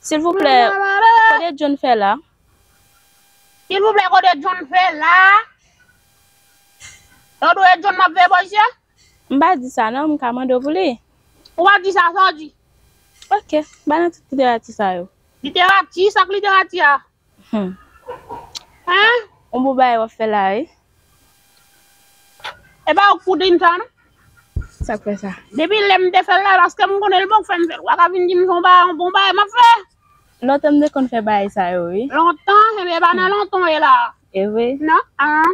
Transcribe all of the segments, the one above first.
Silvouplè kode John fè la. Silvouplè kode John fè la. Ou do e John map veye boys yo? M pa di sa nan, m ka mande w pou li. Ou pa di sa, sa w di? Ok, ba nan tout literati sa yo. Literati, sa k literati a? Humm ah on bon bagay wap fè la wi. Epa ok pou tintan non. Sak fè sa. Depi lem te fel la paskem konnen li poko fem fel wa ka vin dim son bagay on bon bagay map fe. Lontan m te konn fè bagay sa yo wi. Lontan ebyen epa nan lontan w ye la. Evre. Non ahh.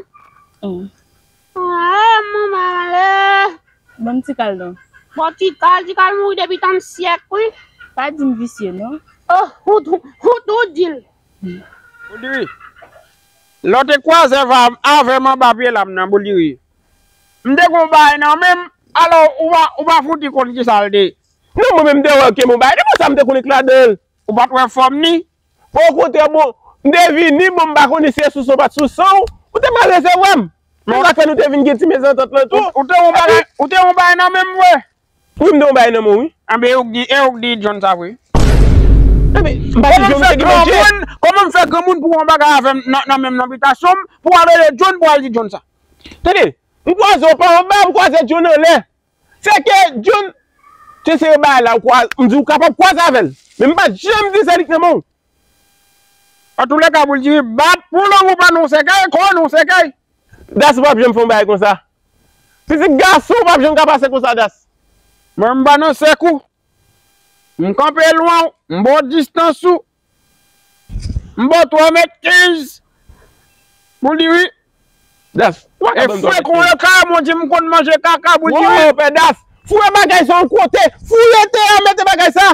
Humm. Aah manman ale. Banm tikal non. Bon tikal tikal mouri depi tan syèk wi. Pa dim visye non. Oh ou tou dil. Bouliri lè w te kwaze avèm anba pye lam nan bouliri m te gen yon bagay nan menm alò ou pa fouti konn kisa l te. Non mwen menm m te wè w te gen yon bagay nan men sa m te konn ek ladanl. Ou pat wè fòm li? Okontrè bon, m te vini, bon m pa konnen si e sou san w pat sou san w, ou te mal resevwa m. Se sak fè nou te vin gen ti mezantant lan tou. Ou te gen yon bagay nan men m vre? Wi m te gen yon bagay nan men w wi. Anben e ou k di, e ou k di John sa vre? Anben, m pa di John se Guy Manje? Kòman m fè granmoun pou w wè yon bagay avè m nan men m nan bitasyon m, pou w al rele John pou w al di John sa? Tande, m kwaze w pa anba, m kwaze John anlè. Se ke John ke se yo bay la ou kwa, m di ou kapab kwaze avè l. Men m pa janm di se li k nan men w. Antoulèka pou l di bat pou lanmou pa nou sèkèy, kò nou sèkèy. Das pap janm fè yon bagay konsa. Fizik gason w pap janm ka pase konsa Das. Mwen m pa nan sèk ou. M kanpe lwen w, m ba w distans ou. M ba w 3 mèt 15 pou li wi. Daph, e fwe kon yon kara mon di m konn manje kaka pou di wi. Pè Daph, foure bagay sa yon kote, foure te a mete bagay sa.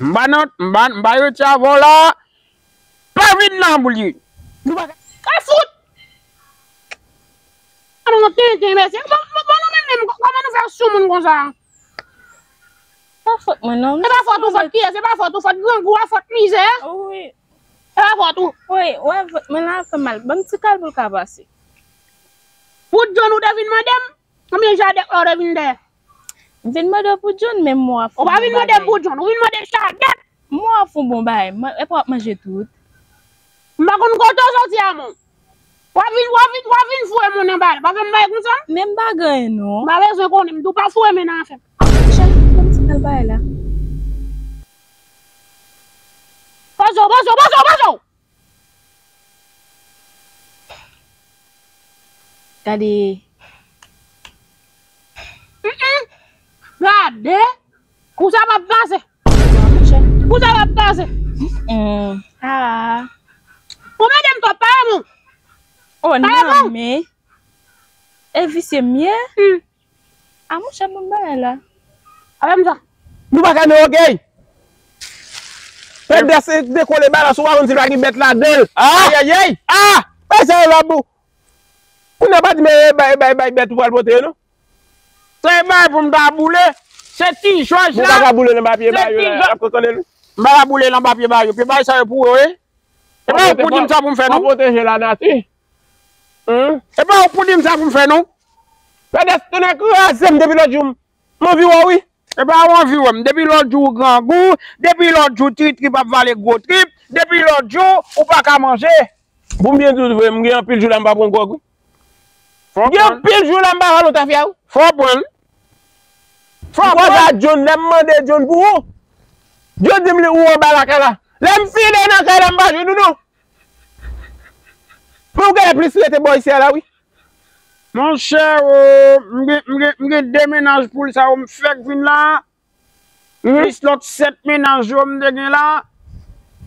M ba nan, m ba, m ba yo ti avè w la a. Pa vin nan pou li. Nou pa ka fout. An nou tenten mesye. Bon nou menm menm kòman nou fè soumoun konsa. Pa fòt mwen non. Se pa fòt ou fòt kiyes se pa fòt ou fòt grangou a fòt mizè a wi se pa fòt ou wi wè vant mwen la ap fè mal banm ti kal poul ka pase. Pou John ou te vin mandem konbyen jadèt la ou te vin dèyè. M vin mandew pou John men mò ap fè bon bagay. Ou pa vin mandem pou John ou vin mandem jadèt. Mon wap fon bon bagay man epa wap manje tout. M pa konn kote w soti a mon. Wap vin wap vin wap vin foure mon nan bal pa fè m bagay konsa. Menm bagay non. M pa bezwen konnen m tou pa foure men nan afè m. Chak ti moun ti kal bagay la. Poze w poze w poze w poze w. Gade kou sa map pase. Kou sa map pase. Ou mèdem twòp pa remon. Pa remon. E visye m ye. Ah monchè bon bagay la. Ala nou sa. Nou pa ka nan ògèy. Pèp dèse de kole balans ou pa konn si pa gen bèt ladanl. Ayayay. Ah! Bay sa yo la pou. Kounya pa di men bay bay bay bèt ou pral pote yo non. Se bay pou m ta boule. Se ti jòj la. Mwen pa ka boule l anba pye ba yo la. Lap kokonnen m. M pa ka boule l anba pye ba yo. Pye ba yo sa yo pou ou wi. Se pa yo pou di m sa pou m fè non. Mwen pwoteje lanati. Humm. E pa ou k pou dim sa pou m fè non. Pedes tonnè kraze m depi lòt jou m anvi wè w wi. E pa ou anvi wè m. Depi lòt jou ou grangou, depi lòt jou tri trip ap vale gwo trip, depi lòt jou ou pa ka manje. Pou m byen di w vre m gen anpil jou la m pa pran gwòg wi. M gen anpil jou la m pa ralo tafya wi. Fò w pran l. M kòz a John lè m mande John pou ou, John di m li ou anba lakay la. Lè m file nan kay la m pa jwenn ou non. Mwen ou genlè plis rete bò isi a la wi. Monchè oo m gen 2 mennaj poul sa yo m fèk vin la plis lòt 7 mennaj yo m te gen la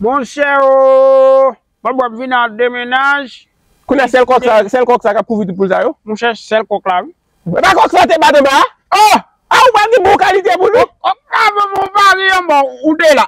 monchè oo bon wap vin a 2 mennaj. Kounye a sèl kòk sa sèl kòk sa kap kouvri tout poul sa yo. Monchè sèl kòk la wi. Epa kòk sa te bat anba a? Oh! Ah ou pa gen bon kalite poul wi. Kòk la vòm ou pa ri anba ou 2 la.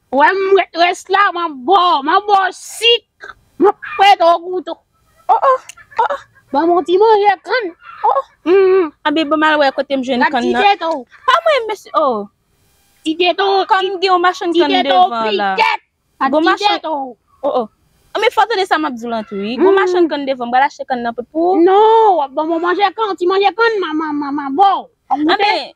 Wè m ret rès la man bo man bo sik man pret o goute oh oh oh oh ban m on ti manje kann oh oh humm anben ban m al wè kote m jwenn kann nan la ti teto pa mwen mesye oh ti teto kòm gen yon machann kann devan la ti teto piket a ti teto oh oh anben fò w tande sa m ap di w lan tou wi gon machann kann devan m pral achte kann nan pou non w ap ban m on manje kann ti manje kann man man man bo anben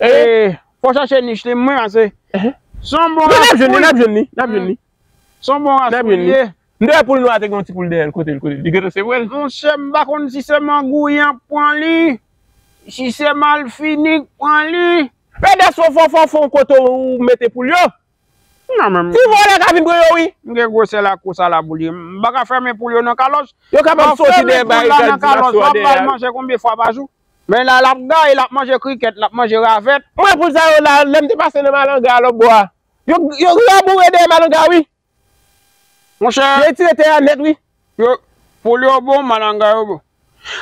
Eee fò chache nich li mwen pase son bon ras poul. Yo nap jwenn li nap jwenn li. Son bon ras poul li ye. M te wè poul nwa te gen yon ti poul dèyèl kotel kotel li gentan se vwèl. Monchè m pa konn si se mangou yan k pran li si se malfini k pran li. Pedes fon fon fon fon kote ou mete poul yo. Ti vòlè ka vin pran yo wi. M gen gwosè lakous a la pou li. M paka fèmen poul yo nan kalòs. Yo kapab soti dèyè bay kal ti maswa dèyè a. Wap bay manje konbyen fwa pa jou. Men la l ap gaye, l ap manje krikèt, l ap manje ravèt. Mwen poul sa yo la, lè m te pase nan Malanga a lòtbò a. Yo raboure dèyè Malanga a wi. Monchè. Yo etire tè a nèt wi. Yo, poul yo bon, Malanga yo bon.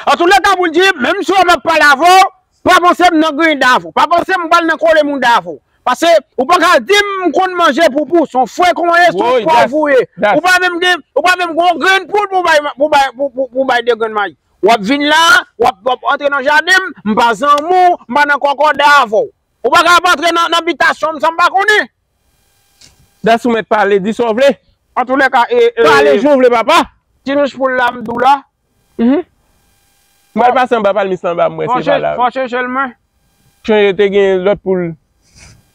Antoulèka pou l di, menm si w wè m ap pale avè w, pa panse m nan griyen dav ou. Pa panse m pral nan kole moun dav ou. Pase, ou pa ka di m m konn manje poupou. Son frekan w ye, son pòv ou ye. Ou pa menm gen, ou pa menm gen yon grenn poul pou w bay pou w bay 2 grenn mayi. Wap vin la, wap wap antre nan jadenm, m pa zanmi w, m pa nan kòkòday avè w. Ou pa ka ap antre nan nan bitasyon m san m pa konnen. Dansou mèt pale, di sa w vle. Antoulèka e e. Pale jan w vle papa. Ti nich poul la m di w la. Mph. M pral pase anba palmis lan anba m wè si pa la. Fò chanje l mwen. Chanje te gen lòt poul.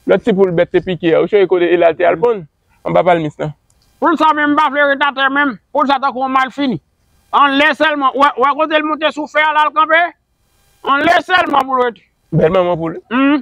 Lòt ti poul bèt te pike a. Ou chanje kote e la l te al ponn? Anba palmis lan. Poul sa menm m pa vle ret atè menm. Poul sa tankou yon malfini. An lè sèlman, ou wè kote l moute sou fè a la l kanpe? An lè sèlman pou l ret. Bèl manman pou li. Humm.